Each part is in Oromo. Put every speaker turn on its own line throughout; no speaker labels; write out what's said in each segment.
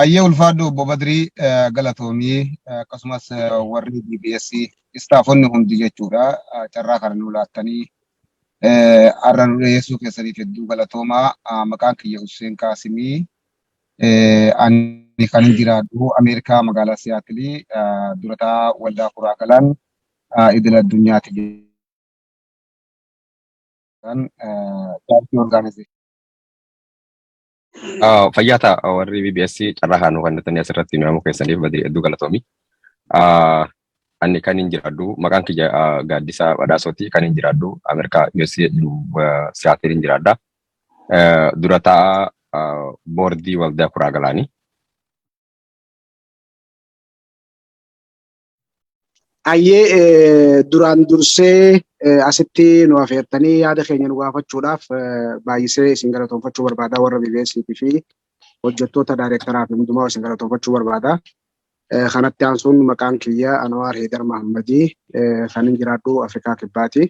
Ayyee ulfaadhu obbo Badrii galatoomii akkasumas warri BBS istaafonni hundi jechuudha carraa kana nu laattanii har'a nu dhiyeessuu keessaniif hedduu galatoomaa maqaan kiyya Husseen Qaasimii ani kan jiraadhu Ameerikaa magaalaa Siyaatilii durataa waldaa kuraa galaan idil addunyaati jechuudhaan chaartii orgaanizee.
Ah, Fayyaa ta'a warri BBS carraa haa nu kennitanii asirratti nu yaamuu keessaniif badii hedduu galatoomi. Ah, Ani kan hin jiraadhu maqaan kiyya ah, Gaaddisaa Badhaasooti kan hin jiraadhu Ameerikaa USA Siyaatiin hin jiraadha. Eh, Dura ta'a ah, boordii waldaa kuraa galaanii.
Ayyee duraan dursee asitti nu afeertanii yaada keenya nu gaafachuudhaaf baay'isee isin galatoomfachuu barbaada warra BBSiitii fi hojjettoota daayireektaraa fi hundumaa isin galatoomfachuu barbaada. Kanatti aansuun maqaan kiyya Anwaar Heedar Mahammadii kan hin jiraadhu Afrikaa Kibbaati.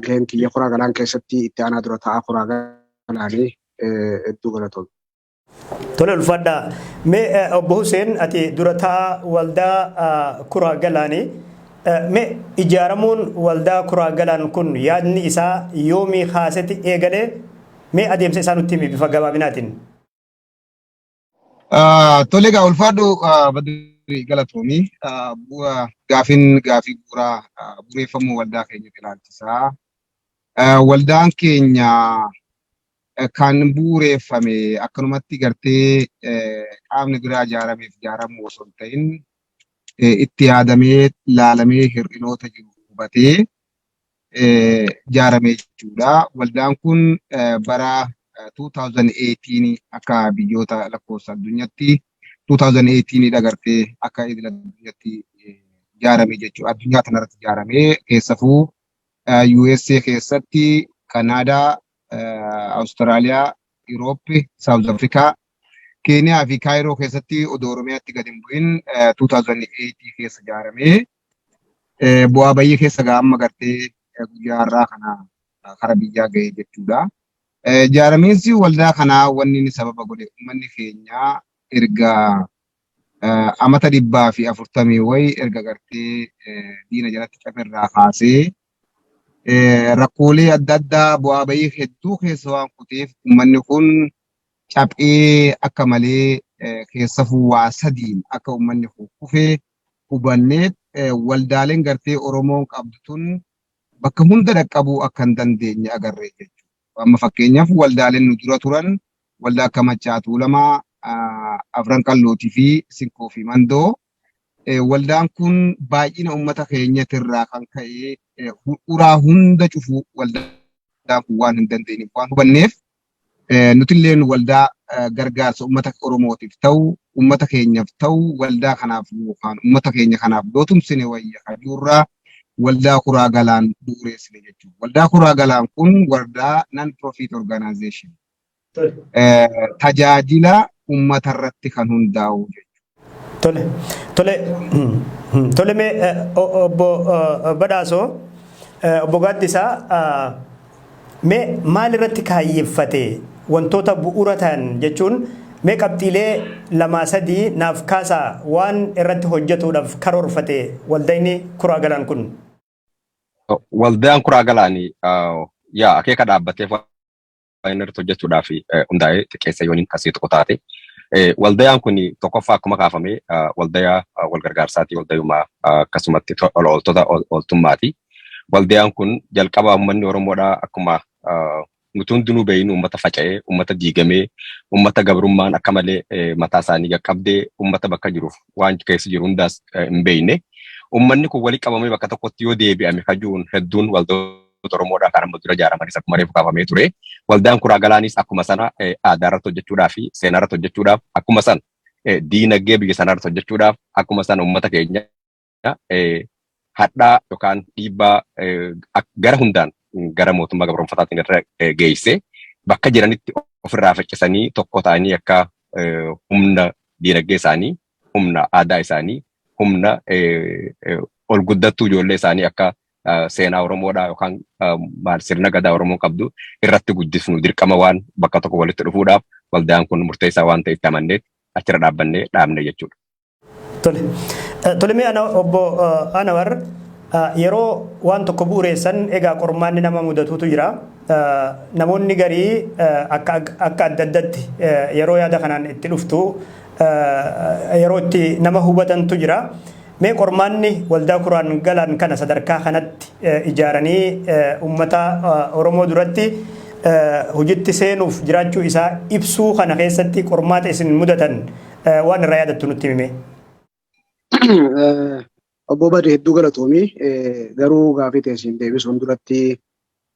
Gaheen kiyya kuraa galaan keessatti itti aanaa dura taa'aa kuraa galaanii hedduu galatoomne. Tole
ulfaadha. Mee eh, obbo Huseen ati durataa waldaa ah, kuraa galaani. Eh, Mee ijaaramuun waldaa kuraa galaan kun yaadni isaa yoomii kaaseti eegalee mee adeemsa isaa nutti himi bifa gabaabinaatiin. Ah,
Tole egaa ulfaadhu ah, badri galatoomi. Ah, bu- ah, Gaafin gaafii bu'uuraa ah, bu'uureffamuu waldaa keenya ilaalchisaa. Ah, Waldaan keenya kan bu'uureeffame akkanumatti gartee qaamni biraa ijaarameef ijaaramuu osoo hin ta'in itti yaadamee laalamee hir'inoota jiru hubatee ijaarame jechuudha. Waldaan kun bara 2018 akka biyyoota lakkoofsa addunyaatti 2018 dha gartee akka idil addunyaatti ijaarame jechuudha. Addunyaa kanarratti ijaarame keessafuu USA keessatti Kanaadaa Awustiraaliyaa, Yurooppi, Saawuz Afrikaa, Keeniyaa fi Kaayiroo keessatti odoo Oromiyaatti gad hin bu'in 2008 keessa ijaaramee bu'aa bayyee keessa ga'a amma gartee guyyaa har'aa kana kara biyyaa ga'ee jechuudha. Ijaaramiinsi waldaa kanaa wanni inni sababa godhe uummanni keenya erga amata dhibbaa fi afurtamii wayi erga gartee diina jalatti caferraa kaasee rakkoolee adda addaa bu'aa bahii hedduu keessa waan kuteef uummanni kun caphee akka malee keessafuu waa sadiin akka uummanni kun kufe hubannee waldaaleen gartee Oromoon qabdu tun bakka hunda dhaqqabuu akka hin dandeenye agarree jechuudha. Amma fakkeenyaaf waldaaleen nu dura turan waldaa akka Maccaa Tuulamaa, Afran Qallootii fi Sinkoo fi Mandoo Waldaan kun baay'ina uummata keenyatirraa kan ka'e uraa hunda cufuu waldaan kun waan hin dandeenyeef waan hubanneef nutilleen waldaa gargaarsa uummata Oromootiif ta'u uummata keenyaaf ta'u waldaa kanaaf yookaan uummata keenya kanaaf yoo tumsine wayya kajuurraa waldaa kuraa galaan bu'ureessine jechuudha. Waldaa kuraa galaan kun waldaa non profit organization tajaajila ummata irratti kan hundaa'u jechuudha. Tole, tole,
tole mee obbo Badhaasoo, obbo Gaaddisaa mee maal irratti kaayyeffate wantoota bu'uura ta'an jechuun mee qabxiilee lamaa sadii naaf kaasaa waan irratti hojjetuudhaaf karoorfate waldayni kuraa galaan kun.
Waldaan kuraa galaanii yaa akeeka dhaabbateef irratti hojjechuudhaaf hundaa'ee xiqqeessa yooniin asii tokko taate. Waldayaan kun tokkoffaa akkuma kaafame waldayaa walgargaarsaati waldayumaa akkasumatti tola ooltota ooltummaati. Waldayaan kun jalqaba uummanni Oromoodhaa akkuma nuti hundinuu beeynu uummata faca'ee, uummata diigamee, uummata gabrummaan akka malee mataa isaanii qaqqabdee uummata bakka jiruuf waan keessa jiru hundaas hin beeyne. Uummanni kun walitti qabamee bakka tokkotti yoo deebi'ame kajuun hedduun waldoota Hayyoota Oromoodhaa kan amma dura ijaaramanis akkuma reefu kaafamee ture. Waldaan Kuraa Galaanis akkuma sana aadaa irratti hojjechuudhaa fi seenaa irratti hojjechuudhaaf akkuma sana diinagdee biyya sanaa irratti hojjechuudhaaf akkuma sana uummata keenya hadhaa yookaan dhiibbaa gara hundaan gara mootummaa gabroomfataatiin irra geessee bakka jiranitti ofirraa faccisanii tokko ta'anii akka humna diinagdee isaanii humna aadaa isaanii, humna ol guddattuu ijoollee isaanii akka seenaa Oromoodhaa yookaan maal sirna gadaa Oromoon qabdu irratti guddisnu dirqama waan bakka tokko walitti dhufuudhaaf waldaan kun murteessaa waan ta'e itti amanneet achirra dhaabbannee dhaabne jechuudha. Tole.
Tolemee ana obbo Anawar yeroo waan tokko bu'ureessan egaa qormaanni nama mudatuutu jira. Namoonni garii akka adda addatti yeroo yaada kanaan itti dhuftu yeroo itti nama hubatantu jira. Mee qormaanni waldaa kuraan galaan kana sadarkaa kanatti ijaaranii uummata Oromoo duratti hojitti seenuuf jiraachuu isaa ibsuu kana keessatti qormaata isin mudatan waan irraa yaadattu nutti himee.
Obbo Badi hedduu galatoomi. Garuu gaafii teessiin deebisuun duratti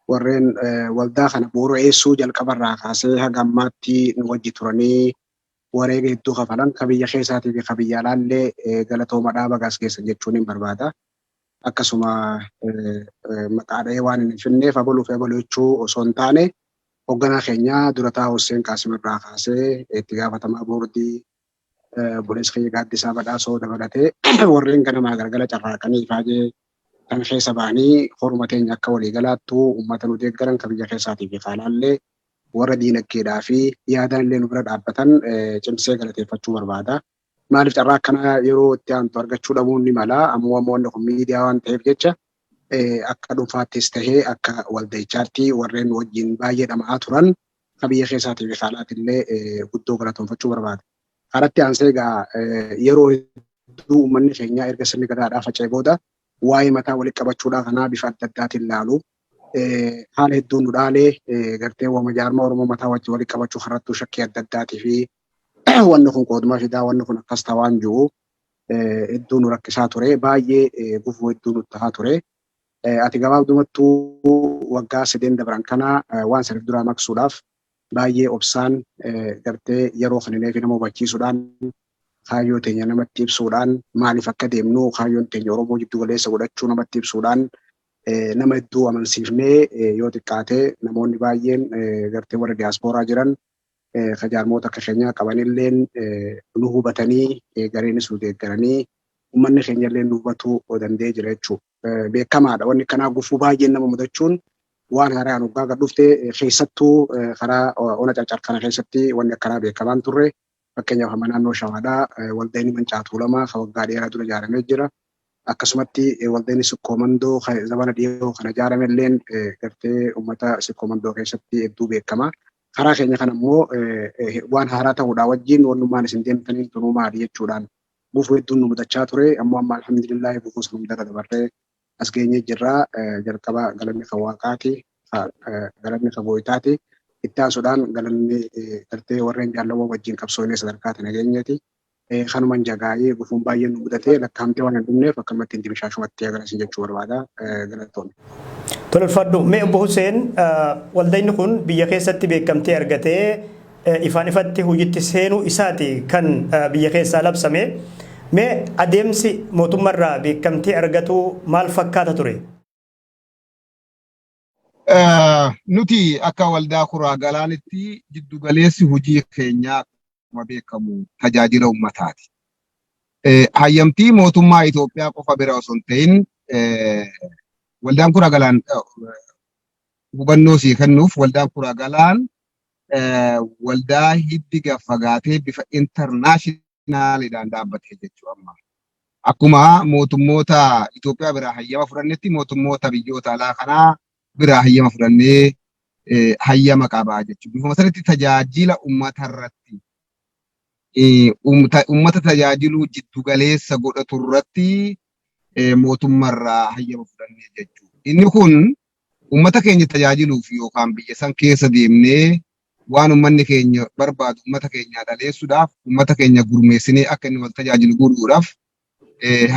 warreen waldaa kana bu'uura eessuu jalqabarraa kaasee haga ammaatti nu wajji turanii wareega hedduu kafalan ka biyya keessaatii fi ka biyya alaa illee galatoomadha baga as geessan jechuuniin barbaada. Akkasuma maqaa dhahee waanin hin finneef abaluu fi abaluu jechuu osoo hin taane hogganaa keenya dura taa'aa Husseen Qaasim irraa kaasee itti gaafatamaa boordii obboleessa keenya Gaaddisaa Badhaasoo dabalatee warreen ganamaa galgala carraaqanii ifaajee kan keessa bahanii horuma teenya akka walii galaattu uummata nu deeggaran ka biyya keessaatii fi ka alaa illee warra diinaggeedhaa fi yaadaan illee nu bira dhaabbatan cimsee galateeffachuu barbaada. Maaliif carraa akkanaa yeroo itti aantu argachuu dhabuun ni mala. Ammoo ammoo wanni kun miidiyaa waan ta'eef jecha akka dhuunfaattis tahee akka walda'ichaatti warreen nu wajjin baay'ee dhama'aa turan ka biyya keessaatii fi kaalaatti illee guddoo galatoomfachuu barbaada. Karatti aansee egaa yeroo hedduu uummanni keenyaa erga sirni gadaadhaa faca'e booda waa'ee mataa walitti qabachuudhaa kanaa bifa adda addaatiin laalu. haala hedduun nu dhaalee gartee wama jaarmaa Oromoo mataa wajjin walitti qabachuu kanarrattuu shakkii adda addaatii fi wanni kun qooduma fidaa wanni kun akkas ta'a waan jiru hedduu nu rakkisaa ture baay'ee gufuu hedduu nu tahaa ture. Ati gabaabdumattuu waggaa sadeen dabran kana waan saniif duraa maqsuudhaaf baay'ee obsaan gartee yeroo kanilee fi nama hubachiisuudhaan kaayyoo teenya namatti ibsuudhaan maaliif akka deemnu kaayyoon teenya Oromoo jiddu galeessa godhachuu namatti ibsuudhaan nama hedduu amansiifnee yoo xiqqaate namoonni baay'een gartee warra diyaaspooraa jiran ka jaarmoota akka keenyaa qabanilleen nu hubatanii gareenis nu deeggaranii ummanni keenyallee nu hubatuu danda'ee jira jechuudha. Beekamaadha wanni kanaa gufuu baay'een nama mudachuun waan haaraan hoggaa gad dhufte keessattuu karaa ona carcar kana keessatti wanni akkanaa beekamaan turre Fakkeenyaaf amma naannoo Shawaadhaa waldayni Mancaa Tuulamaa ka waggaa dheeraa dura jaaramee jira. Akkasumatti waldayni Sikkoo Mandoo ka zamana dhiyoo kana jaarame illeen gartee ummata Sikkoo Mandoo keessatti hedduu beekama. Karaa keenya kana immoo waan haaraa ta'uudhaa wajjiin wannummaan isin deemtaniin tunuu maali jechuudhaan gufuu hedduun nu mudachaa ture. Ammoo amma alhamdulillaahi gufuu san hundarra dabarree. as geenyee jirra. Jalqaba galanni kan waaqaati, galanni kan gooytaati. Itti aansuudhaan galanni gartee warreen jaallawwan wajjin qabsoonee sadarkaa tana geenyeeti. Kanuman jagaa'ee gufuun baay'een nu mudatee lakkaa'amtee waan hin dhumneef akkanumatti hin dimshaashumatti hagana isin jechuu barbaada. Galatoomi. Tolfadhu
mee obbo Huseen waldayni kun biyya keessatti beekamtii argatee ifaan ifatti hojiitti seenuu isaati kan biyya keessaa labsame. Mee adeemsi mootummarraa beekamtii argatuu maal fakkaata ture?
Nuti akka waldaa kuraa galaanitti jiddu galeessi hojii keenyaa akkuma beekamu tajaajila ummataati. Hayyamtii mootummaa Itoophiyaa qofa bira osoo hin ta'in waldaan kuraa galaan hubannoo sii kennuuf waldaan kuraa galaan waldaa hiddi gad fagaatee bifa intarnaashinaaliidhaan dhaabbatee jechuu amma. Akkuma mootummoota Itoophiyaa biraa hayyama fudhannetti mootummoota biyyoota alaa kanaa biraa hayyama fudhannee hayyama qabaa jechuudha. Bifuma sanitti tajaajila uummata irratti uummata tajaajiluu jiddu galeessa godhatu irratti mootummarraa hayyama fudhannee jechuudha. Inni kun Uummata keenya tajaajiluuf yookaan biyya san keessa deemnee waan uummanni keenya barbaadu uummata keenyaa dhaleessuudhaaf, uummata keenya gurmeessinee akka inni wal tajaajilu godhuudhaaf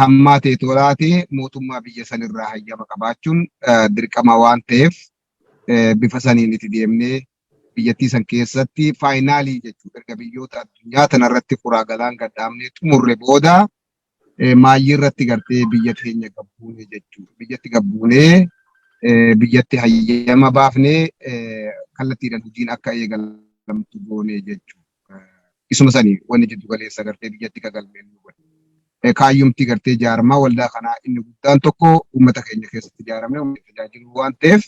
hammaatee toolaatee mootummaa biyya san irraa hayyama qabaachuun dirqama waan ta'eef bifa saniin itti deemnee biyyattii san keessatti faayinaalii jechuudha. Erga biyyoota addunyaa tana irratti kuraa galaan gad dhaabnee xumurre booda maayyii irratti gartee biyya keenya gabbuune jechuudha. Biyyatti gabbuunee biyyatti hayyama baafnee kallattiidhaan hojiin akka eegalamtu goonee jechuudha. Isuma sani wanni jiddu galeessa gartee biyyatti gagalmeen nu godhe. Kaayyumti gartee jaarmaa waldaa kanaa inni guddaan tokko uummata keenya keessatti ijaaramne uummata tajaajiluu waan ta'eef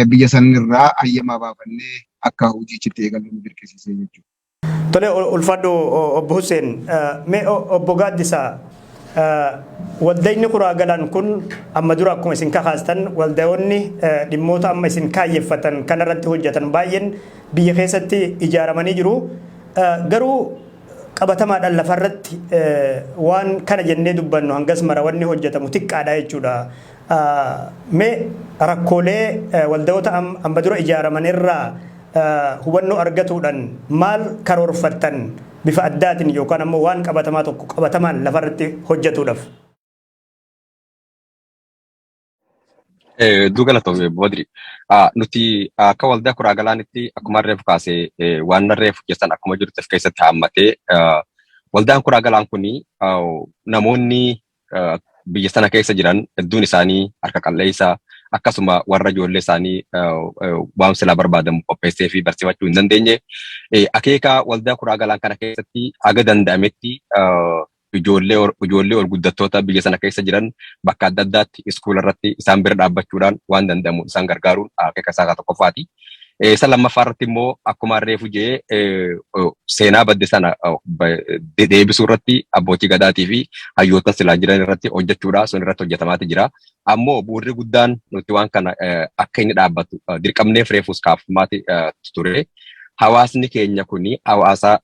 biyya sanirraa hayyama baafannee akka hojiichitti eegallu nu dirqisiisee jechuudha. Tole
ulfaadhu obbo Hussein. Mee obbo Gaaddisaa waldayni kuraa galaan kun amma dura akkuma isin kakaastan waldayoonni dhimmoota amma isin kaayyeffatan kanarratti hojjetan baay'een biyya keessatti ijaaramanii jiru. Garuu qabatamaadhaan lafarratti waan kana jennee dubbannu hangas mara wanni hojjetamu xiqqaadha jechuudha. Mee rakkoolee waldayoota amma dura ijaaraman irraa hubannoo argatuudhan maal karoorfattan bifa addaatin yookaan ammoo waan qabatamaa tokko qabatamaan lafa irratti hojjetuudhaf?
Hedduu galatoomi Obbo Badri. Nuti akka waldaa kuraa galaanitti akkuma reefu kaasee waan reefu keessan akkuma jirutti of keessatti haammatee waldaan kuraa galaan kun namoonni biyya sana keessa jiran hedduun isaanii harka qalleessa akkasuma warra ijoollee isaanii waan silaa barbaadamu qopheessee fi barsiifachuu hin dandeenye. Akeeka waldaa kuraa galaan kana keessatti haga danda'ametti ijoollee ol guddattoota biyya sana keessa jiran bakka adda addaatti iskuula irratti isaan bira dhaabbachuudhaan waan danda'amu isaan gargaaruun akeeka isaa tokkoffaati. Isa lammaffaa irratti immoo akkuma harreefu jee seenaa badde sana deebisuu irratti abbootii gadaatii fi hayyoota silaa jiran irratti hojjechuudha. Sun irratti hojjetamaati jira. Ammoo bu'uurri guddaan nuti waan kana akka inni dhaabbatu dirqamneef reefuus kaafamaati ture. Hawaasni keenya kun hawaasa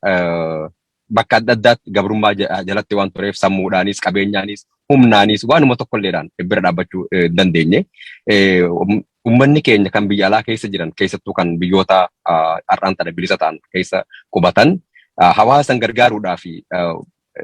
bakka adda addaatti gabrummaa ja- jalatti waan tureef sammuudhaanis qabeenyaanis humnaanis waanuma tokkolleedhaan bira dhaabbachuu eh, hin dandeenye. Eh, um- Ummanni keenya kan biyya alaa keessa jiran keessattuu kan biyyoota ah, har'aan tana bilisa ta'an keessa qubatan ah, hawaasan gargaaruudhaa fi ah,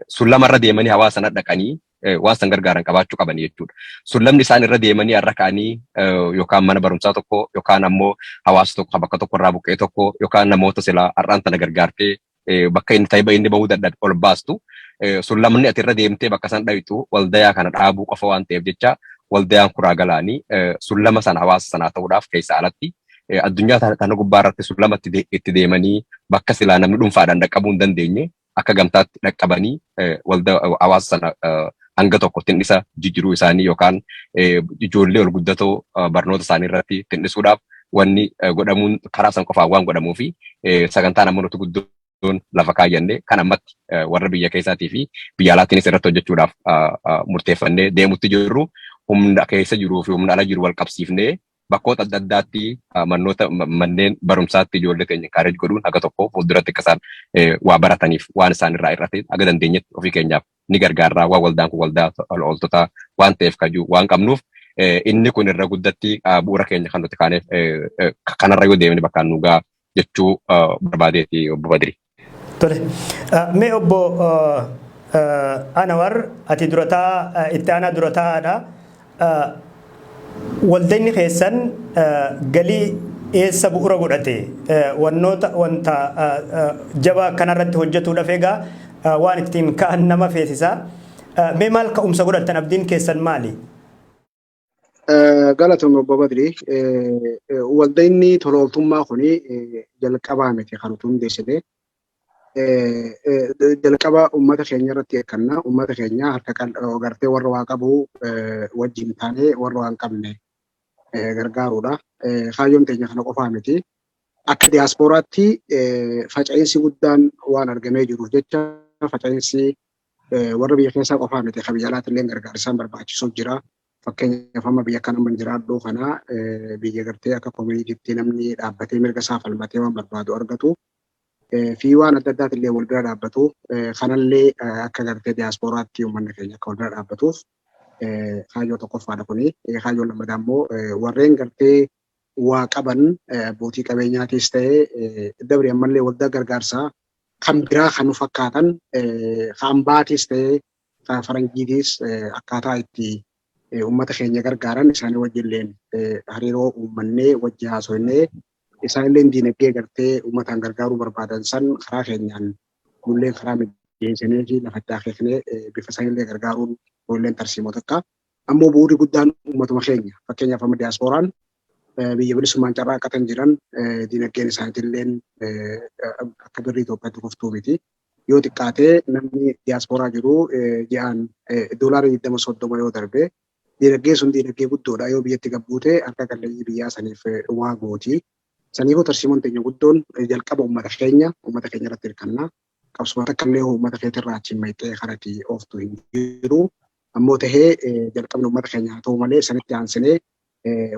sullama irra deemanii hawaasan dhaqanii eh, waan san gargaaran qabaachuu qaban jechuudha. Sullamni isaan irra deemanii har'a ka'anii eh, yookaan mana barumsaa tokko yookaan ammoo hawaasa tokko bakka tokko irraa buqqee tokko yookaan namoota silaa har'aan tana gargaartee eh, bakka inni taiba inni bahuu dadhabe ol baastu eh, sullamni ati irra deemtee bakka san dhayxu waldayaa kana dhaabuu qofa waan ta'eef jecha waldayaan kuraa galaanii eh, sullama sana hawaasa sanaa ta'uudhaaf keessa alatti eh, addunyaa tana tana gubbaa irratti sullama itti de- itti deemanii bakka silaa namni dhuunfaadhaan dhaqqabuu hin dandeenye akka gamtaatti dhaqqabanii eh, walda hawaasa sana eh, hanga tokko tin'isa jijjiruu isaanii yookaan ijoollee ol guddatoo barnoota isaanii irratti tin'isuudhaaf wanni godhamuun karaa san qofaan waan godhamuu fi sagantaan amma nuti guddoon lafa kaayyanne kan ammatti warra biyya keessaatii fi biyya alaatiinis irratti hojjechuudhaaf murteeffannee deemutti jirru humna keessa jiruu fi humna ala jiru wal qabsiifnee bakkoota adda addaatti mannoota manneen barumsaatti ijoollee keenya kaareej godhuun haga tokko fuulduratti akka isaan waa barataniif waan isaan irraa irratti haga dandeenyetti ofii keenyaaf ni gargaarraa waan waldaan kun waldaa tola ooltotaa waan ta'eef kajuu waan qabnuuf inni kun irra guddatti bu'uura keenya kan nuti kaaneef kanarra yoo deemne bakkaan nu ga'a jechuu barbaadeeti obbo Badiri. Tole.
Mee obbo Anawar ati durataa itti aanaa durataadha. Waldayni keessan galii dhiyeessa bu'ura godhate wannoota wanta jabaa akkanarratti hojjetuudhaf egaa waan ittiin ka'an nama feesisa. Mee maal ka'umsa godhattan abdiin keessan maali?
Galatoom obbo Badri. Waldayni tolooltummaa kun jalqabaa miti kan utuu hundeessine. jalqaba uummata keenya irratti eegganna. Uummata keenya harka qal'oo gartee warra waa qabu wajjin taanee warra waan qabne gargaaruudha. Kaayyoon keenya kana qofaa miti. Akka diyaaspooraatti faca'iinsi guddaan waan argamee jiruuf jecha faca'iinsi warra biyya keessaa qofaa miti kan biyya alaatti illee gargaarsaan barbaachisuuf jira. Fakkeenyaaf amma biyya kana hin jiraadhu kana biyya gartee akka koominiitiitti namni dhaabbatee mirga isaa falmatee waan barbaadu argatu. fi waan adda addaati illee wal bira dhaabbatu. Kanallee akka gartee diyaaspooraatti uummanni keenya akka wal bira dhaabbatuuf kaayyoo tokkoffaadha kuni. Kaayyoon lammataa immoo warreen gartee waa qaban abbootii qabeenyaatiis ta'ee dabri ammallee waldaa gargaarsaa kan biraa kan nu fakkaatan kan ambaatiis ta'ee kan faranjiitiis akkaataa itti uummata keenya gargaaran isaanii wajjilleen hariiroo uummannee wajji haasofnee Isaanilleen diinagdee gartee uummataan gargaaruu barbaadan san karaa keenyaan nulleen karaa mijeessineefii lafa itti akeeknee bifa sanillee gargaaruun kunilleen tarsiimoo takka. Ammoo bu'uurri guddaan uummatuma keenya. Fakkeenyaaf amma diyaaspooraan biyya bilisummaan carraaqqatan jiran diinagdeen isaaniitilleen akka birrii Itoophiyaatti kuftuu miti. Yoo xiqqaatee namni diyaaspooraa jiru ji'aan doolaara 20-30 yoo darbe Diinagdeen sun diinagdee guddoodha. Yoo biyyatti gad buute harka qalleeyyii biyyaa saniif waa gooti. Saniifuu tarsiimoon teenya guddoon jalqaba ummata keenya, ummata keenya irratti hirkanna. Qabsuma takkallee ummata keetirraa achiin mayxee karati ooftu hin jiru. Ammoo tahee jalqabni ummata keenya haa tahu malee sanitti aansinee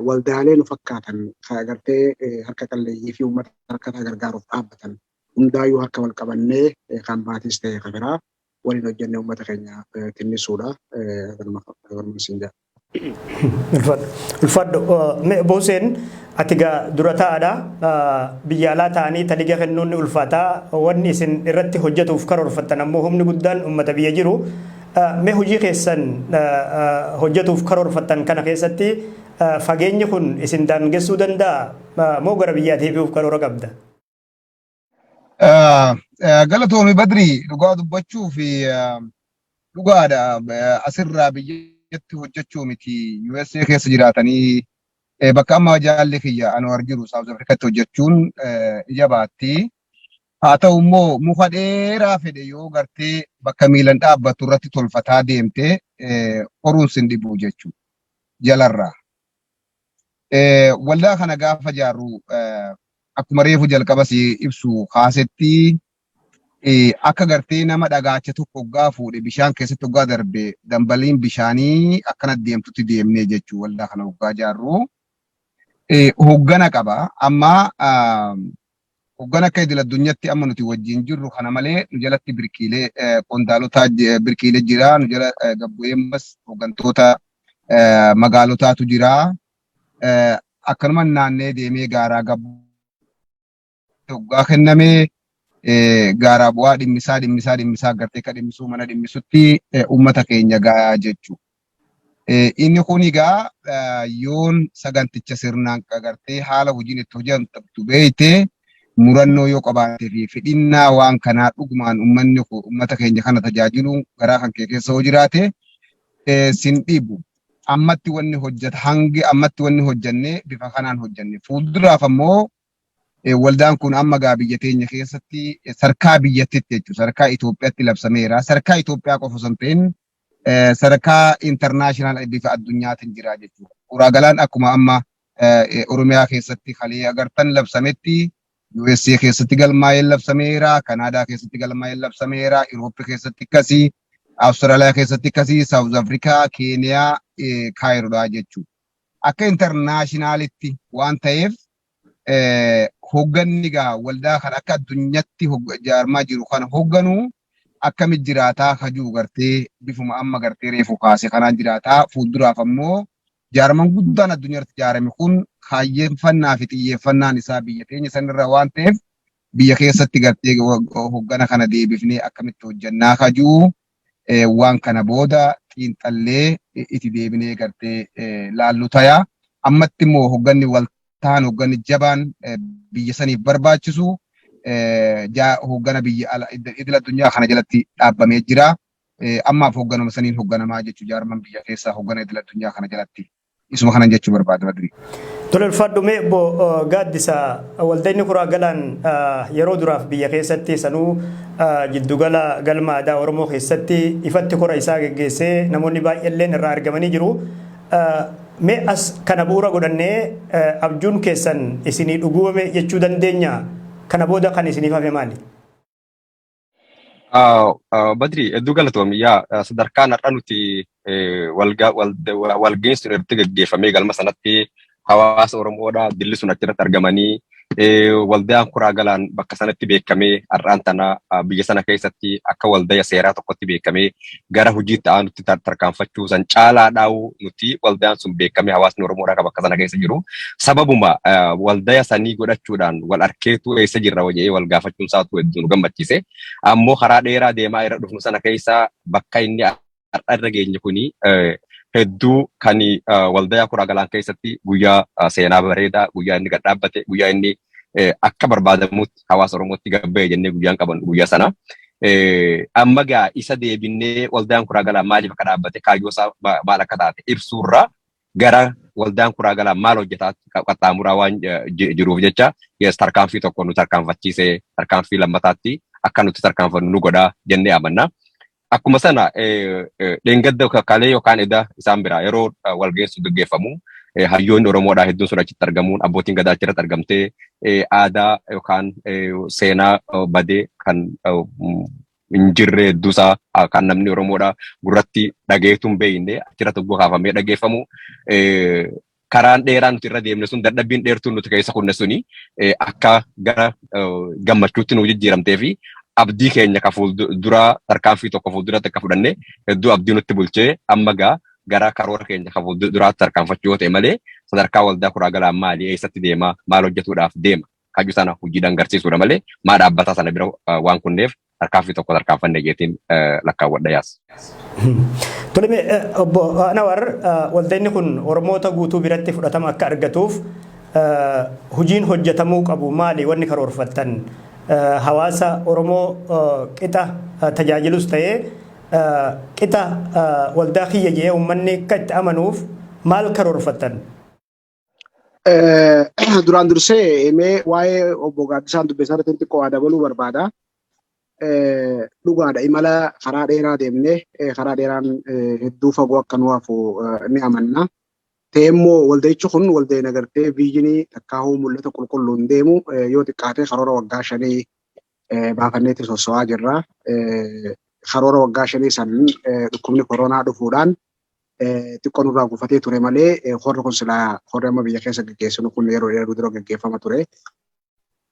waldaalee nu fakkaatan ka gartee harka qalleeyyii fi ummata rakkataa gargaaruuf dhaabbatan hundaayyuu harka wal qabannee kan maatiis tahe ka biraa waliin hojjannee uummata keenya tinnisuudha. Kanuma kanuma isin jedha.
Ulfaadhu. Ulfaadhu. Mee Obbo Huseen ati gaa dura taa'aadha. Biyya alaa ta'anii taliga kennuun ni ulfaataa. Wanni isin irratti hojjetuuf karoorfattan ammoo humni guddaan uummata biyya jiru. Mee hojii keessan hojjetuuf karoorfattan kana keessatti fageenyi kun isin daangessuu danda'a moo gara biyyaa deebi'uuf karoora qabda?
Galatoomi Badri dhugaa dubbachuu fi dhugaadha asirraa biyyatti hojjechuu miti USA keessa jiraatanii bakka amma jaalli kiyya Anwar jiru Saawuz Afrikatti hojjechuun ija baatti. Haa ta'u immoo muka dheeraa fedhe yoo gartee bakka miilan dhaabbattu irratti tolfataa deemte qoruun sin dhibu jechuudha jalarraa. Waldaa kana gaafa jaarru akkuma reefu jalqaba si ibsu kaasetti akka gartee nama dhagaacha tokko oggaa fuudhe bishaan keessatti oggaa darbe dambaliin bishaanii akkana deemtutti deemnee jechuu waldaa kana oggaa jaarru hoggana qaba. Amma Hoggan akka idil addunyatti amma nuti wajjin jirru kana malee nu jalatti birqiile qondaalotaa birqiile jira nu jala gabbu'eemmas hoggantoota magaalotaatu jira akkanuma naannee deemee gaaraa gabbu hoggaa kenname gaaraa bu'aa dhimmisaa dhimmisaa dhimmisaa gartee ka dhimmisuu mana dhimmisutti uummata keenya gaa jechu Inni kun egaa yoon saganticha sirnaan qagartee haala hojiin itti hojjetamtu beekte murannoo yoo qabaattee fi fedhinnaa waan kanaa dhugumaan ummanni ummata keenya kana tajaajiluun garaa kan kee keessa yoo jiraate sin dhibu. Ammatti wanni hojjeta hangi ammatti wanni hojjenne bifa kanaan hojjenne. Fuulduraaf ammoo waldaan kun amma gaa biyya teenya keessatti sarkaa biyyattitti jechuudha. Sarkaa Itoophiyaatti labsameera. Sarkaa Itoophiyaa qofa osoo hin ta'in sadarkaa international bifa addunyaatiin jira jechuudha. Uraagalaan akkuma amma Oromiyaa keessatti kalee agartan labsametti USA keessatti galmaa'ee labsameera, Kanaadaa keessatti galmaa'ee labsameera, Iroopi keessatti akkasii, Awustiraaliyaa keessatti akkasii, Saawuz Afrikaa, Keeniyaa, Kaayiroodhaa jechuudha. Akka internaashinaalitti waan ta'eef hogganni egaa waldaa kana akka addunyatti jaarmaa jiru kana hogganu akkamitti jiraataa ka jiru gartee bifuma amma gartee reefu kaase kanaan jiraataa fuulduraaf ammoo jaarman guddaan addunyaarratti jaarame kun kaayyeeffannaa fi xiyyeeffannaan isaa biyya teenya sanirra waan ta'eef biyya keessatti gartee hoggana kana deebifnee akkamitti hojjannaa ka jiru waan kana booda xiinxallee itti deebinee gartee laallu taya. Ammatti immoo hogganni waltaan hogganni jabaan biyya saniif barbaachisu hoggana biyya ala idil addunyaa kana jalatti dhaabbamee jira. Ammaaf hogganuma saniin hogganamaa jechuun jaarman biyya keessaa hoggana idil addunyaa kana jalatti. Isuma kanan jechuu barbaada Badrii. Tole ulfaadhu
mee obbo Gaaddisa waldaa inni kuraa galaan yeroo duraaf biyya keessatti sanuu jiddugala galma aadaa Oromoo keessatti ifatti kora isaa geggeessee namoonni baay'eelleen irraa argamanii jiru. Mee as kana bu'uura godhannee abjuun keessan isinii dhuguwame jechuu dandeenya kana booda kan isiniif hafe maali?
Ah, ah, Badri, hedduu galatoomi. Yaa ah, sadarkaan har'a nuti eh, wal ga- wal- wa- wal geessuun irratti gaggeeffamee galma sanatti hawaasa Oromoodha dilli sun achirratti argamanii eh, waldaan kuraa galaan bakka sanatti beekamee har'aan tana ah, biyya sana keessatti akka waldaya seeraa tokkotti beekamee gara hojii itti aanutti tar- tarkaanfachuu san caalaadhaa'uu nuti waldaan sun beekamee hawaasni Oromoodhaa qaba akka sana keessa jiru sababuma eh, waldaya sanii godhachuudhaan wal arkeetu eessa jirra waja'ee wal gaafachuun isaatu hedduu nu gammachiise. Ammoo karaa dheeraa deemaa irra dhufnu sana keessa bakka inni har'a irra geenye kuni eh, hedduu kan eh, waldayaa kuraa galaan keessatti guyyaa eh, seenaa bareedaa guyyaa inni gad dhaabbate guyyaa inni akka barbaadamutti hawaasa Oromootti gabba'e jennee guyyaan qaban guyyaa sana. Amma gaa isa deebinnee waldaan kuraa galaa maaliif akka dhaabbate kaayyoo isaa maal akka taate ibsuurraa gara waldaan kuraa galaa maal hojjetaa qaxxaamuraa waan jiruuf jecha yes tarkaanfii tokko nu tarkaanfachiisee tarkaanfii lammataatti akka nuti tarkaanfannu nu godhaa jennee amanna. Akkuma sana dheengadda kalee yookaan edaa isaan biraa yeroo walgeessu gaggeeffamu hayyoonni Oromoodhaa hedduun sun achitti argamuun abbootiin gadaa achirratti argamtee aadaa yookaan seenaa badee kan hin jirre hedduusaa kan namni Oromoodhaa gurratti dhageetuun beekne achirratti oggoo kaafamee dhageeffamu karaan dheeraa nuti irra deemne sun dadhabbiin dheertuun nuti keessa kunne suni akka gara gammachuutti nu jijjiiramtee fi abdii keenya ka fuulduraa tarkaanfii tokko fuulduratti akka fudhanne hedduu abdii nutti bulchee amma gaa gara karoora keenya ka fuulduraatti tarkaanfachuu yoo ta'e malee sadarkaa waldaa kuraa galaa maali eessatti deema maal hojjetuudhaaf deema kaju sana hojiidhaan garsiisuudha malee maa dhaabbataa sana bira waan kunneef tarkaanfii tokko tarkaanfanne jeetiin lakkaawwadha yaas.
Tole mee obbo Anawar waltajni kun Oromoota guutuu biratti fudhatama akka argatuuf hojiin hojjetamuu qabu maali wanni karoorfattan hawaasa Oromoo qixa tajaajilus ta'ee qixa waldaa kiyya jedhee uummanni akka itti amanuuf maal karoorfattan?
Duraan dursee mee waa'ee obbo Gaaddisaan Dubbisaa irratti xiqqoo waa dabaluu barbaada. Dhugaadha imala karaa dheeraa deemnee karaa dheeraan hedduu fagoo akka nu hafu ni amanna. Ta'e immoo walda'ichi kun walda'iin agartee viijinii takkaahuu mul'ata qulqulluun deemu yoo xiqqaatee karoora waggaa shanii baafanneetti sosso'aa jirra. Karoora waggaa shanii san dhukkubni koronaa dhufuudhaan xiqqoo nurraa gufatee ture malee horri kun silaa horri amma biyya keessa gaggeessinu kun yeroo dheeraa dura gaggeeffama ture.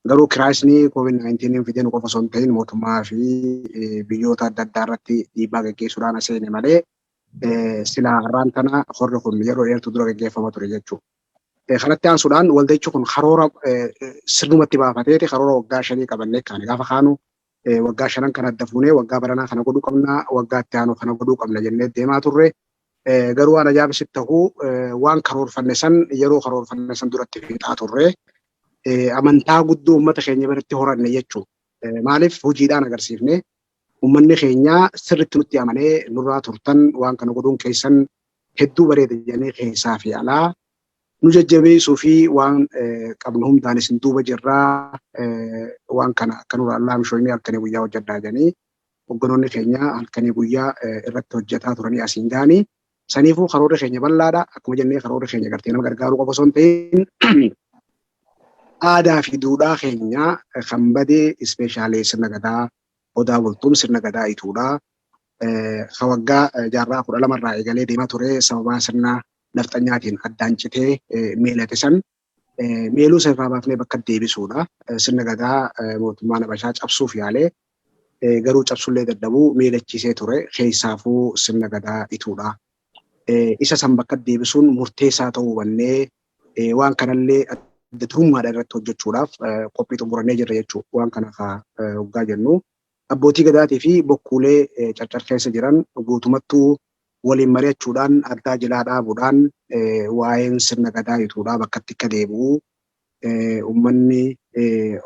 Garuu kiraayisni COVID-19 fidee nu qofa osoo hin ta'in mootummaa fi biyyoota adda addaa irratti dhiibbaa gaggeessuudhaan aseene malee silaa har'aan tana horri kun yeroo dheertuu dura gaggeeffama ture jechuudha. Kanatti aansuudhaan walda'ichi kun karoora sirnumatti baafateeti karoora waggaa shanii qabannee kaane gaafa kaanu waggaa shanan kana adda fuunee waggaa baranaa kana godhuu qabna waggaa itti aanu kana godhuu qabna jennee deemaa turre. Garuu waan ajaa'ibsitti ta'u waan karoorfanne san yeroo karoorfanne san duratti fixaa turre. Amantaa guddoo uummata keenya biratti horanne jechuudha. Maaliif hojiidhaan agarsiifne Ummanni keenya sirriitti nutti amanee nurraa turtan waan kana godhuun keessan hedduu bareeda jedhanii keessaa fi alaa nu jajjabeessuu fi waan qabnu hundaan isin duuba jirra waan kana akka nurraa laamshoyne halkanii guyyaa hojjedhaa jedhanii hogganoonni keenya halkanii guyyaa irratti hojjetaa turanii asiin ga'anii Saniifuu karoorri keenya bal'aadha. Akkuma jennee karoorri keenya gartee nama gargaaruu qofa osoo hin ta'in aadaa fi duudhaa keenya kan badee ispeeshaalee sirna gadaa odaa bultuun sirna gadaa ituudha. Ka waggaa jaarraa kudha lamarraa eegalee deemaa ture sababaa sirna nafxanyaatiin addaan citee meelate san Meeluu isa irraa baafnee bakka deebisuudha. Sirna gadaa mootummaan Habashaa cabsuuf yaalee garuu cabsullee dadhabuu meelachiisee ture keessaafuu sirna gadaa ituudha. Isa san bakka deebisuun murteessaa ta'uu hubannee waan kanallee adda durummaadhaan irratti hojjechuudhaaf qophii xumurannee jirra jechuudha. Waan kana kaa hoggaa jennu Abbootii Gadaatii fi bokkuulee Carcar keessa jiran guutumattuu waliin mari'achuudhaan addaa jilaa dhaabuudhaan waa'een sirna Gadaa ituudhaa bakkatti akka deebi'u, ummanni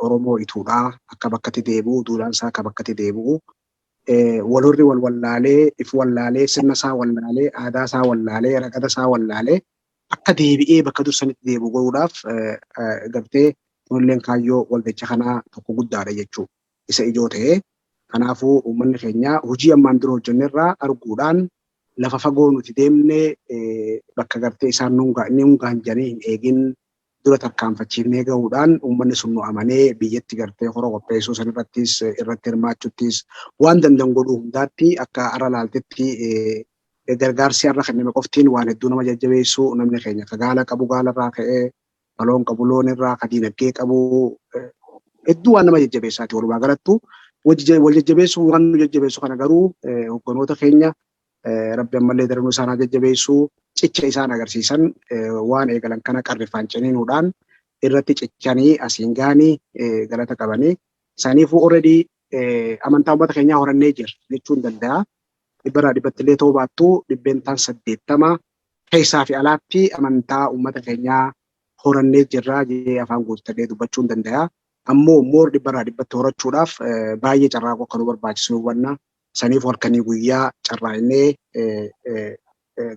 Oromoo ituudhaa akka bakkatti deebi'u, duudhaan isaa akka bakkatti deebi'u, walhorri wal wallaalee, if wallaalee, sirna isaa wallaalee, aadaa isaa wallaalee, ragada isaa wallaalee akka deebi'ee bakka dur sanitti deebi'u godhuudhaaf gartee kunilleen kaayyoo waltajji kanaa tokko guddaadha jechuu. isa ijoo ta'e. Kanaafuu uummanni keenya hojii ammaan dura hojjenne irraa arguudhaan lafa fagoo nuti deemne bakka gartee isaan nuun gahan jedhanii hin eegin dura tarkaanfachiifnee gahuudhaan uummanni sun nu amanee biyyatti gartee kora qopheessuu san irrattis irratti hirmaachuttis waan danda'an godhuu hundaatti akka har'a laaltetti gargaarsi har'a kenname qoftiin waan hedduu nama jajjabeessu namni keenya ka gaala qabu gaala irraa ka'ee Baloon qabu loon irraa ka diinagdee qabu hedduu waan nama jajjabeessaati walumaa galattu wal jajjabeessuun waan nu jajjabeessu kana garuu hogganoota keenya rabbi ammallee daranuu isaan haa jajjabeessu cicha isaan agarsiisan waan eegalan kana qarrifaan ciniinuudhaan irratti cichanii asiin gaanii galata qabanii isaaniifuu already amantaa uummata keenyaa horannee jira jechuun danda'a. Dhibbarraa dhibbatti illee ta'uu baattu dhibbeentaan 80 keessaa fi alaatti amantaa uummata keenyaa horannee jirra jedhee afaan guuttadhee dubbachuun dandaya. Ammoo more dhibbarraa dhibbatti horachuudhaaf baay'ee carraaquu akka nu barbaachisu hubanna. Saniifu halkanii guyyaa carraaqnee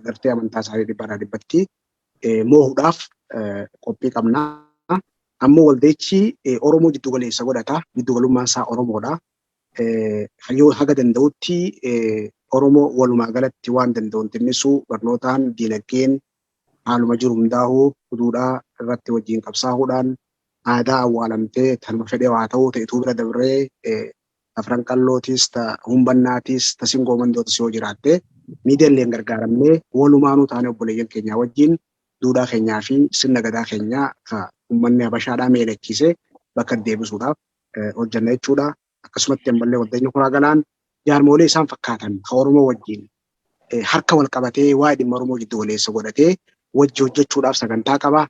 gartee amantaa isaanii dhibbarraa dhibbatti moohuudhaaf qophii qabna. Ammoo waldayichi Oromoo jiddu galeessa godhata. Jiddu galummaan isaa Oromoodha. Hayyuu haga danda'utti Oromoo walumaa galatti waan danda'uun xinnisuu, barnootaan, diinagdeen, haaluma jiru hundaahu duudhaa irratti wajjiin qabsaahuudhaan aadaa awwaalamtee tanuma fedheehu haa ta'uu ta ituu bira dabree ta Afran Qallootis, ta Humbannaatis, ta Singoo Mandootis yoo jiraatte miidiyalleen gargaaramnee walumaanuu taanee obboleeyyan keenyaa wajjiin duudhaa keenyaa fi sirna gadaa keenyaa ka ummanni Habashaadhaa meelechiise bakka deebisuudhaaf hojjanna jechuudha. Akkasumatti ammallee Waltajjii Kuraa Galaan jaarmoolee isaan fakkaatan kan Oromoo wajjin harka wal qabatee waa'ee dhimma Oromoo jiddu galeessa godhatee wajji hojjechuudhaaf sagantaa qaba.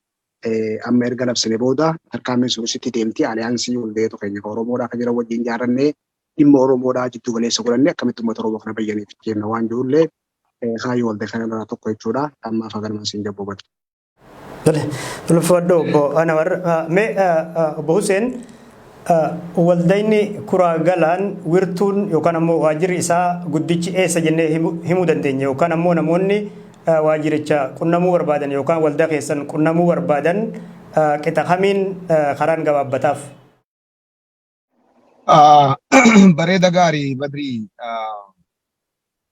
Amma erga labsine booda tarkaanfiin sun sitti deemti. Aliyaansii hundeetu keenya kan Oromoodhaa kan jiran wajjin ijaarrannee dhimma Oromoodhaa jiddu galeessa godhannee akkamitti uummata Oromoo kana bayyaniif jenna waan jirullee kaayyoo waltajjii kanarraa tokko jechuudha. Ammaaf haganuma siin jabboo badha. Tole, ulfaadhu
obbo Anawar. Ah, Mee ah, ah, obbo Huseen ah, waldayni kuraa galaan wirtuun yookaan ammoo waajirri isaa guddichi eessa jennee himu- himuu dandeenya yookaan ammoo namoonni ah, waajiricha qunnamuu barbaadan yookaan waldaa keessan qunnamuu barbaadan ah, qixa kamiin ah, karaan gabaabbataaf?
Bareeda gaarii Badrii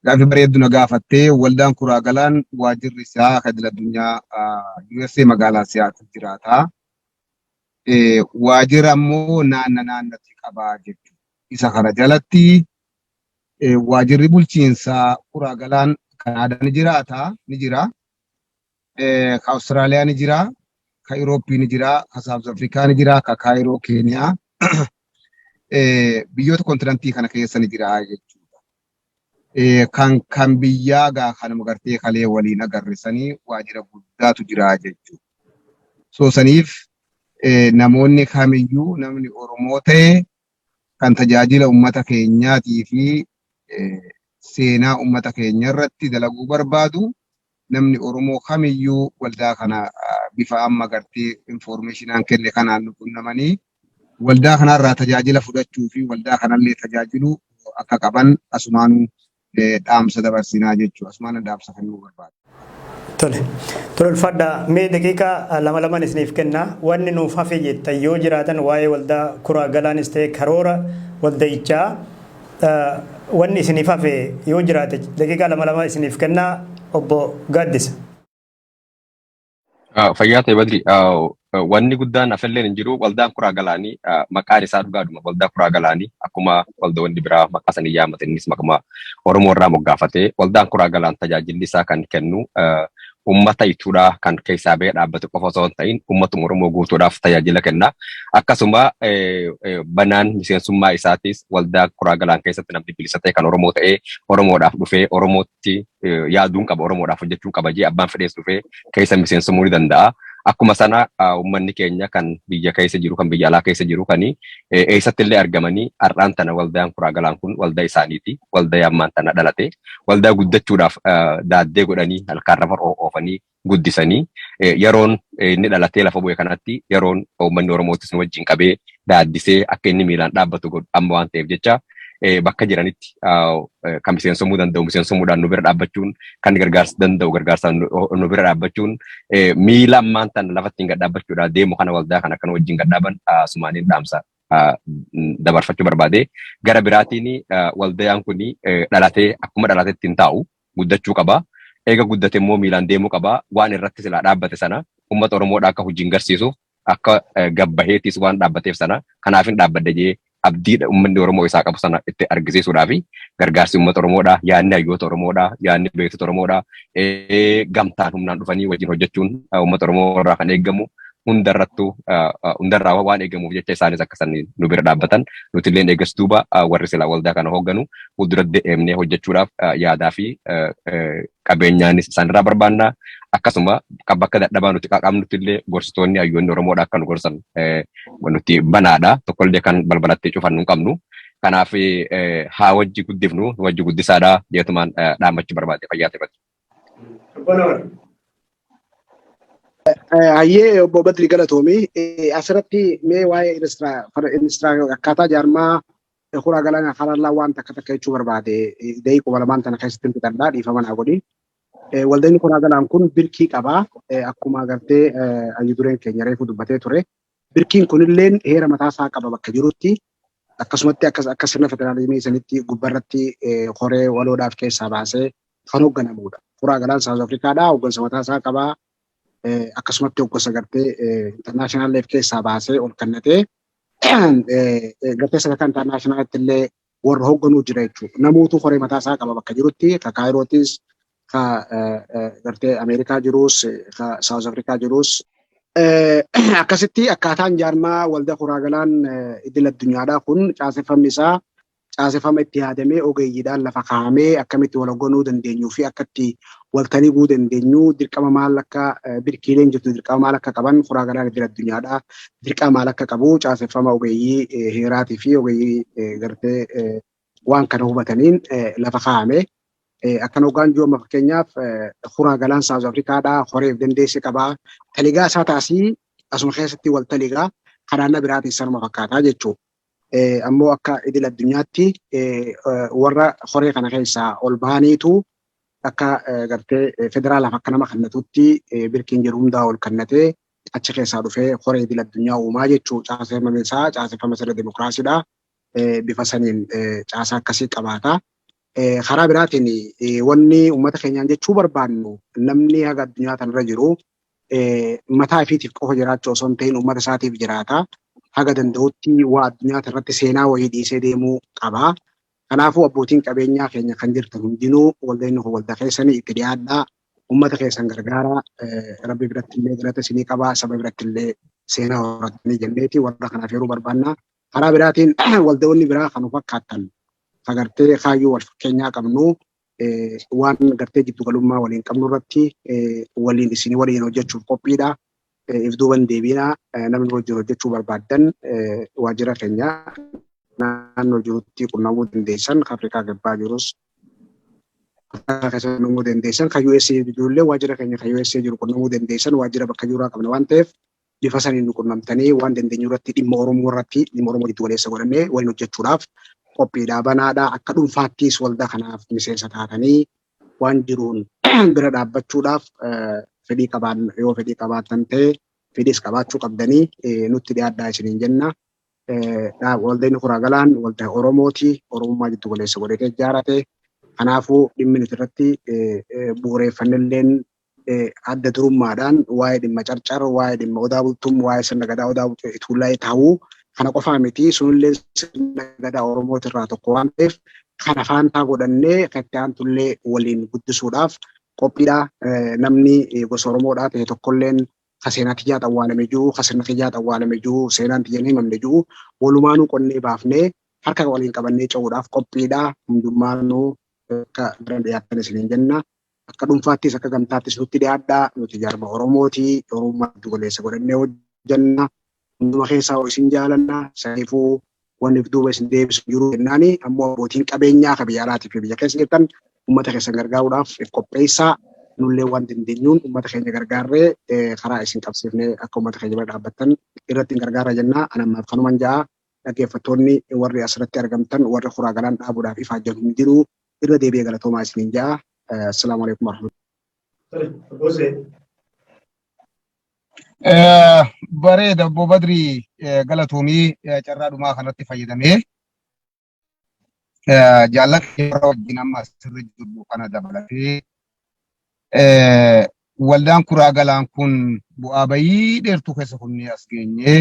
gaaffii bareeddu na gaafattee waldaan kuraa galaan waajirri isaa akka idil addunyaa USA magaalaa Siyaatil jiraata. Waajira ammoo naanna naannatti qabaa jechuudha. Isa kana jalatti waajirri bulchiinsaa kuraa galaan Kanaadaa ni jiraata ni jira. ka Australia ni jira, ka Europe ni jira, ka South Africa ni jira, ka Cairo Kenya biyyoota kontinantii kana keessa ni jira jechuudha. Kan kan biyyaa gaa kanuma gartee kalee waliin agarrisanii waajjira guddaatu jira jechuudha. So saniif namoonni kamiyyuu namni Oromoo ta'e kan tajaajila ummata keenyaatii fi seenaa ummata keenya irratti dalaguu barbaadu namni Oromoo kamiyyuu waldaa kana bifa amma gartee informeeshinaan kenne kanaan nu qunnamanii waldaa kanarraa tajaajila fudhachuu fi waldaa kanallee tajaajiluu akka qaban asumaanuu dhaamsa dabarsinaa jechuudha. Asumaan dhaamsa kan nuu barbaadu. Tole.
Tole ulfaadhaa mee daqiiqaa lama lamaan isiniif kennaa wanni nuuf hafe jettan yoo jiraatan waa'ee waldaa kuraa galaanis ta'e karoora waldayichaa wanni isiniif hafe yoo jiraate daqiiqaa lama lama isiniif kennaa obbo Gaaddisa.
Ah, Fayyaa ta'e Badri, ah, eh, wanni guddaan afilleen hin jiru waldaan kuraa galaanii ah, maqaan isaa dhugaadhuma waldaa kuraa galaanii akkuma waldoonni biraa maqaa sanii yaamate innis maqaa Oromoo irraa moggaafatee waldaan kuraa galaan tajaajilli isaa kan kennu ah, uummata ituudhaa kan keessaa ba'ee dhaabbatu qofa osoo hin ta'in uummatuma Oromoo guutuudhaaf tajaajila kenna. Akkasuma eh, eh, banaan miseensummaa isaatis waldaa kuraa galaan keessatti namni bilisa ta'e kan Oromoo ta'ee Oromoodhaaf dhufee Oromoo irratti yaaduun qaba Oromoodhaaf hojjechuun qaba jee abbaan fedhees dhufee keessa miseensumuu ni danda'a. Akkuma sana uummanni keenya kan biyya keessa jiru kan biyya alaa keessa jiru kan eessatti illee argamanii har'aan tana waldaan kuraa galaan kun waldaa isaaniiti. Waldaa ammaan tana dhalate. Waldaa guddachuudhaaf daaddee godhanii halkaan rafa oofanii guddisanii yeroon inni dhalatee lafa bu'e kanatti yeroon uummanni Oromootis nu wajjin qabee daaddisee akka inni miilaan dhaabbatu godhu amma waan ta'eef jecha bakka jiranitti kan miseensomuu danda'u miseensomuudhaan nu bira dhaabbachuun kan gargaarsa danda'u gargaarsaan nu bira dhaabbachuun miila ammaan tan lafatti hin gadhaabbachuudhaan deemu kana waldaa kan akka nu wajjin gadhaaban sumaaniin dhaamsa dabarfachuu barbaade gara biraatiin waldayaan kun dhalatee akkuma dhalatetti hin taa'u guddachuu qaba. Eega guddate immoo miilaan deemuu qaba. Waan irratti silaa dhaabbate sana ummata Oromoodhaa akka hojiin garsiisuuf akka gad baheetiis waan dhaabbateef sana kanaafin dhaabbadhe jee abdii ummanni Oromoo isaa qabu sana itti argisiisuudhaafi gargaarsi ummata Oromoodhaa, yaadni hayyoota Oromoodhaa, yaadni beektota Oromoodhaa gamtaan humnaan dhufanii wajjin hojjechuun ummata Oromoo irraa kan eegamu hundarrattuu hundarraa waan eegamuuf jecha isaanis akka isaan nu bira dhaabbatan nuti illee eegas duuba warri silaa waldaa kana hoogganu fuuldura deemnee hojjechuudhaaf yaadaa fi qabeenyaanis isaanirraa barbaanna. Akkasuma bakka dadhabaa nuti qaqqabnutti illee gorsitoonni hayyoonni Oromoodha akka nu gorsan nuti banaadha. Tokkollee kan balbalattee cufannu hin qabnu. Kanaaf haa wajji guddifnu, wajji guddisaadha jeetumaan dhaammachuu barbaade fayyaa ta'e.
Hayyee obbo Badri galatoomi. Asirratti mee waa'ee akkaataa jaarmaa kuraa galaanaa harallaa waan takka takka jechuu barbaade daqiiqa kuma lamaan tana keessatti hin fixadhaa dhiifama naa godhi. Waldeenni kuraa galaan kun birkii qaba. Akkuma agartee hayyu dureen keenya reefu dubbatee ture. Birkiin kunilleen heera mataa isaa qaba bakka jirutti. Akkasumatti akka akka sirna federaalizimii sanitti gubbarratti koree waloodhaaf keessaa baasee kan hoogganamuudha. Kuraa galaan Saawuz Afrikaadhaa hooggansa mataa isaa qaba. Akkasumatti hooggansa gartee intarnaashinaaleef keessaa baasee ol kennatee gartee sadarkaa intarnaashinaaleetti illee warra hoogganuu jira jechuudha. Namootu koree mataa isaa qaba bakka jirutti ka Kaayirootis ka gartee Ameerikaa jiruus ka Saawuz Afrikaa jiruus. Akkasitti akkaataan jaarmaa waldaa kuraagalaan idil addunyaadhaa kun caaseffamni isaa caaseffama itti yaadamee ogeeyyiidhaan lafa kaa'amee akkamitti wal hoogganuu dandeenyuu fi akka itti waltanii guu dandeenyu dirqama maal akka birkiileen jirtu dirqama maal akka qaban furaa galaan idil addunyaadha dirqama maal akka qabu caaseffama ogeeyyii heeraatii fi ogeeyyii gartee waan kana hubataniin lafa kaa'ame. Akkan hoggaan jiru amma fakkeenyaaf furaa galaan Saawuz Afrikaadha horeef dandeessi qaba taligaa isaa taasii asuma keessatti wal taligaa kanaanna biraatiin sanuma fakkaataa jechuudha. ammoo akka idil addunyaatti warra koree kana keessaa ol bahaniitu akka gartee federaalaaf akka nama kannatutti birkiin jiru hundaa ol kannatee achi keessaa dhufee koree idil addunyaa uumaa jechuu caaseffama isaa caaseffama sirna dimokiraasiidha. Bifa saniin caasaa akkasii qabaata. Karaa biraatiin wanni uummata keenyaan jechuu barbaannu namni haga addunyaa tanarra jiru mataa ifiitiif qofa jiraachuu osoo hin ta'in uummata isaatiif jiraata. Haga danda'utti waa addunyaa tanarratti seenaa wayii dhiisee deemuu qaba. Kanaafuu abbootiin qabeenyaa keenya kan jirtan hundinuu waldeenni kun waldaa keessanii itti dhiyaadhaa. Uummata keessan gargaaraa. Rabbi biratti illee galata isinii qaba. Saba biratti illee seenaa horattanii jenneeti warra kanaaf yeroo barbaanna. Karaa biraatiin waldayoonni biraa kan of fakkaatan kan gartee kaayyoo wal fakkeenyaa qabnu waan gartee jiddu galummaa waliin qabnu irratti waliin isin waliin hojjechuuf qophiidha. If duuban deebiina namni wajjin hojjechuu barbaaddan waajjira keenya naannoo jirutti qunnamuu dandeessan kan Afrikaa Kibbaa jirus keessatti qunnamuu dandeessan kan USA jirullee waajjira keenya kan USA jiru qunnamuu dandeessan waajjira bakka jiruraa qabna waan ta'eef bifa saniin nu qunnamtanii waan dandeenyu irratti dhimma Oromoo irratti dhimma Oromoo jiddu galeessa godhannee waliin hojjechuudhaaf qophiidhaa banaadha. Akka dhuunfaattis waldaa kanaaf miseensa taatanii waan jiruun bira dhaabbachuudhaaf fedhii qabaan yoo fedhii qabaatan ta'e fedhiis qabaachuu qabdanii nutti dhiyaadhaa isiniin jenna. Waldeen Kuraa Galaan waldaa Oromooti. Oromummaa jiddu galeessa godhatee ijaarate. Kanaafuu dhimmi nuti irratti bu'uureeffannelleen adda durummaadhaan waa'ee dhimma carcar, waa'ee dhimma odaa bultum, waa'ee sirna gadaa odaa bultum fi tuullaayee ta'uu kana qofaa miti. Sunillee sirna gadaa Oromooti irraa tokko waan ta'eef kana faantaa godhannee kan itti aantullee waliin guddisuudhaaf qophiidha. Namni gosa Oromoodhaa ta'e tokkolleen ka seenaa tiyyaa xawwaalame jiru, ka sirna kiyyaa xawwaalame jiru, seenaan tiyya hin himamne jiru walumaanuu qonnee baafnee harka waliin qabannee ce'uudhaaf qophiidha. Hundummaanuu akka bira dhiyaattan isiniin jenna. Akka dhunfaattis akka gamtaattis nutti dhiyaadhaa. Nuti jaarma Oromooti. Oromummaa giddu galeessa godhannee hojjanna. Hunduma keessaa hoo isin jaalanna. Saniifuu wanni of duuba isin deebisu hin jiru jennaani. Ammoo abbootiin qabeenyaa ka biyya alaatii fi biyya keessa jirtan ummata keessan gargaaruudhaaf if qopheessaa. Nullee waan dandeenyuun ummata keenya gargaarree karaa isin qabsiifnee akka ummata keenya bira dhaabbattan irratti hin gargaarra jenna. Ani ammaaf kanuman ja'a. Dhaggeeffattoonni warri asirratti argamtan warri kuraa galaan dhaabuudhaaf ifaajjan hin jiru. irra
deebi'ee galatoomaa isiniin ja'a. Assalaamu alaikum warahmatullahi Bareeda obbo Badri galatoomii carraa dhumaa kanatti fayyadamee jaallan yeroo wajjin amma asirra jirru kana dabalatee waldaan kuraa galaan kun bu'aa bayii dheertuu keessa kunnee as geenyee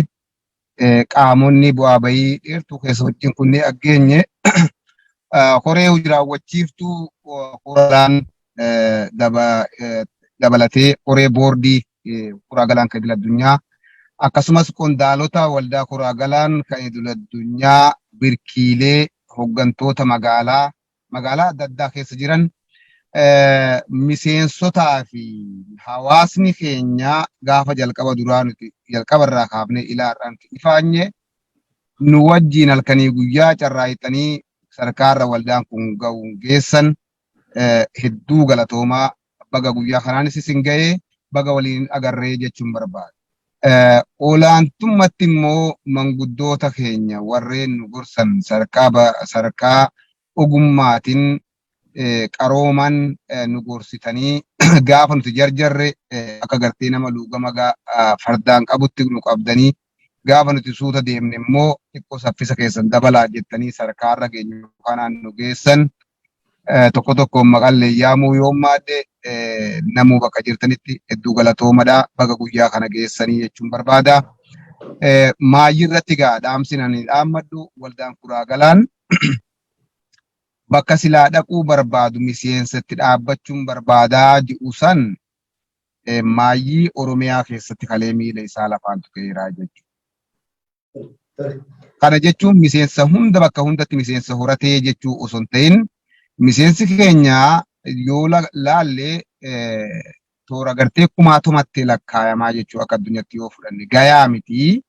qaamonni bu'aa bayii dheertuu keessa wajjin kunneen aggeenye koree hojii raawwachiiftuu koraan dabalatee koree boordii koraa galaan kan idil addunyaa akkasumas qondaalota waldaa koraa galaan kan idil addunyaa birkiilee hoggantoota magaalaa magaalaa adda addaa keessa jiran miseensotaa fi hawaasni keenya gaafa jalqaba duraa nuti jalqaba irraa kaafnee ilaa har'aa nuti ifaanye nu wajjiin halkanii guyyaa carraaqxanii sadarkaa irra waldaan kun ga'uun geessan hedduu galatoomaa baga guyyaa kanaanis isin ga'ee baga waliin agarree jechuun barbaada. Olaantummatti immoo manguddoota keenya warreen nu gorsan sadarkaa ogummaatiin qarooman nu gorsitanii gaafa nuti jarjarre akka gartee nama luugama fardaan qabutti nu qabdanii Gaafa nuti suuta deemne immoo xiqqoo saffisa keessan dabalaa jettanii sadarkaa har'a geenyu kanaan nu geessan. Tokko tokkoon maqallee yaamuu yoon maadhe namuu bakka jirtanitti hedduu galatoomadha. Baga guyyaa kana geessanii jechuun barbaada. Maayyii irratti egaa dhaamsin ani dhaammadhu waldaan kuraa galaan bakka silaa dhaquu barbaadu miseensa itti dhaabbachuun barbaadaa ji'u san Maayyii Oromiyaa keessatti kalee miila isaa lafaan tuqeera jechuudha. Kana jechuun miseensa hunda bakka hundatti miseensa horatee jechuu osoo hin ta'in miseensi keenya yoo laalle toora gartee kumaatumatti lakkaayamaa jechuu akka addunyaatti yoo fudhanne gayaa miti.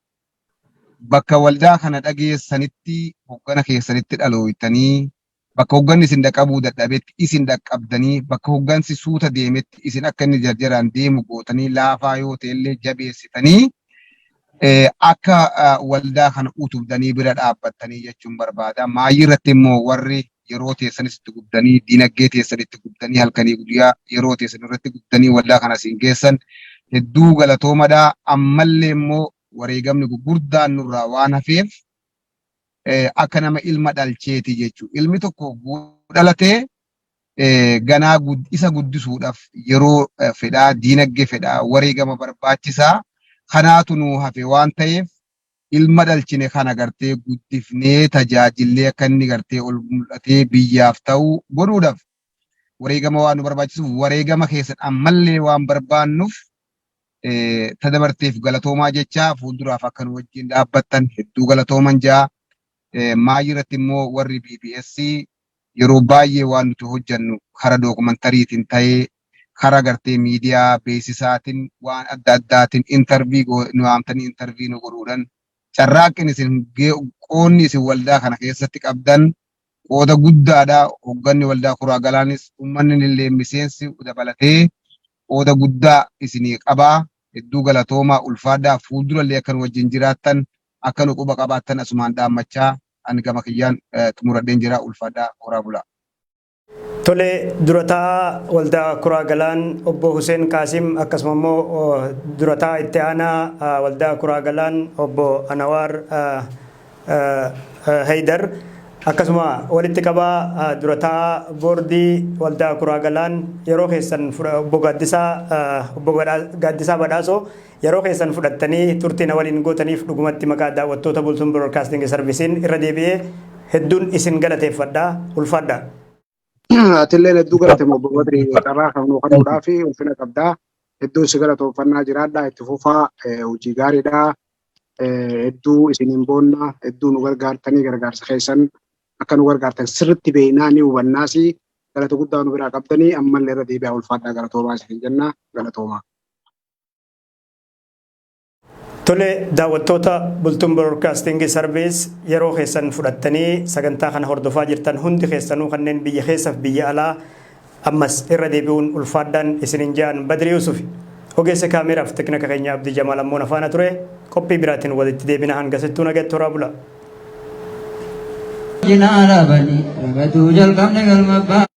Bakka waldaa kana dhageessanitti hoggana keessanitti dhalooytanii Bakka hogganni isin dhaqabuu dadhabetti isin dhaqqabdanii bakka hoggansi suuta deemetti isin akka inni jarjaraan deemu gootanii laafaa yoo ta'ellee jabeessitanii akka waldaa kana utubdanii bira dhaabbattanii jechuun barbaada. Maayii irratti immoo warri yeroo teessanis itti gubdanii diinaggee teessan itti gubdanii halkanii guyyaa yeroo teessan irratti gubdanii waldaa kana isin geessan hedduu galatoomadha. Ammallee immoo wareegamni gurguddaan nurraa waan hafeef eh, akka nama ilma dhalcheeti jechuudha. Ilmi tokko yoo dhalatee eh, ganaa gud- isa guddisuudhaaf yeroo eh, fedhaa, diinagdee fedhaa, wareegama barbaachisaa kanaatu nuu hafe waan ta'eef ilma dhalchine kana gartee guddifnee tajaajillee akka inni gartee ol mul'atee biyyaaf ta'u godhuudhaaf wareegama waan nu barbaachisuuf wareegama keessan ammallee waan barbaannuuf ta dabarteef galatoomaa jechaa fuulduraaf akka nu wajjin dhaabbattan hedduu galatooman jaa maayii irratti immoo warri BBS yeroo baay'ee waan nuti hojjannu kara dookumantariitiin ta'ee kara gartee miidiyaa beeksisaatiin waan adda addaatiin intarvii nu waamtanii intarvii nu godhuudhaan carraaqqin isin qoonni isin waldaa kana keessatti qabdan qooda guddaadha. Hogganni Waldaa Kuraa Galaanis ummanninillee miseensi dabalatee qooda guddaa isinii qaba. Hedduu galatoomaa, ulfaadhaa. Fuuldurallee akka nu wajjin jiraattan, akka nu quba qabaattan asumaan dhaammachaa ani gama kiyyaan xumuradheen jira. Ulfaadhaa, horaa bulaa. Tole,
Dura Taa'aa Waldaa Kuraa Galaan Obbo Huseen Qaasim akkasuma immoo Dura Taa'aa Itti Aanaa Waldaa Kuraa Galaan Obbo Anawaar Haydar, akkasuma walitti qabaa dura taa'aa boordii waldaa Kuraa Galaan yeroo keessan obbo Gaaddisaa obbo Gaaddisaa Badhaasoo yeroo keessan fudhattanii turtii na waliin gootaniif dhugumatti maqaa daawwattoota Bultum Broadcasting Service'n irra deebi'ee hedduun isin galateeffadha. Ulfaadhaa.
Atilleen hedduu galatoomi obbo Badri carraa kan nuu kennuudhaa fi ulfina qabdaa. Hedduun si galatoomfannaa jiraadhaa itti fufaa hojii gaariidhaa. Hedduu isiniin boonna hedduu nu gargaartanii gargaarsa keessan akka nu gargaartan sirriitti beeknaa ni hubannaas galata guddaa nu biraa qabdanii ammallee irra deebi'aa ulfaadhaa galatoomaa isin jenna galatoomaa.
Tole daawwattoota Bultum Broadcasting Service yeroo keessan fudhattanii sagantaa kana hordofaa jirtan hundi keessanuu kanneen biyya keessaf biyya alaa ammas irra deebi'uun ulfaadhaan isinin ja'an Badri Yusufi. Ogeessa kaameeraaf teknika keenya Abdi Jamaal ammoo nafaana ture qophii biraatiin walitti deebina hanga sittuu nagatti horaa bula. Jina arabani,
rabatu jalqabne galma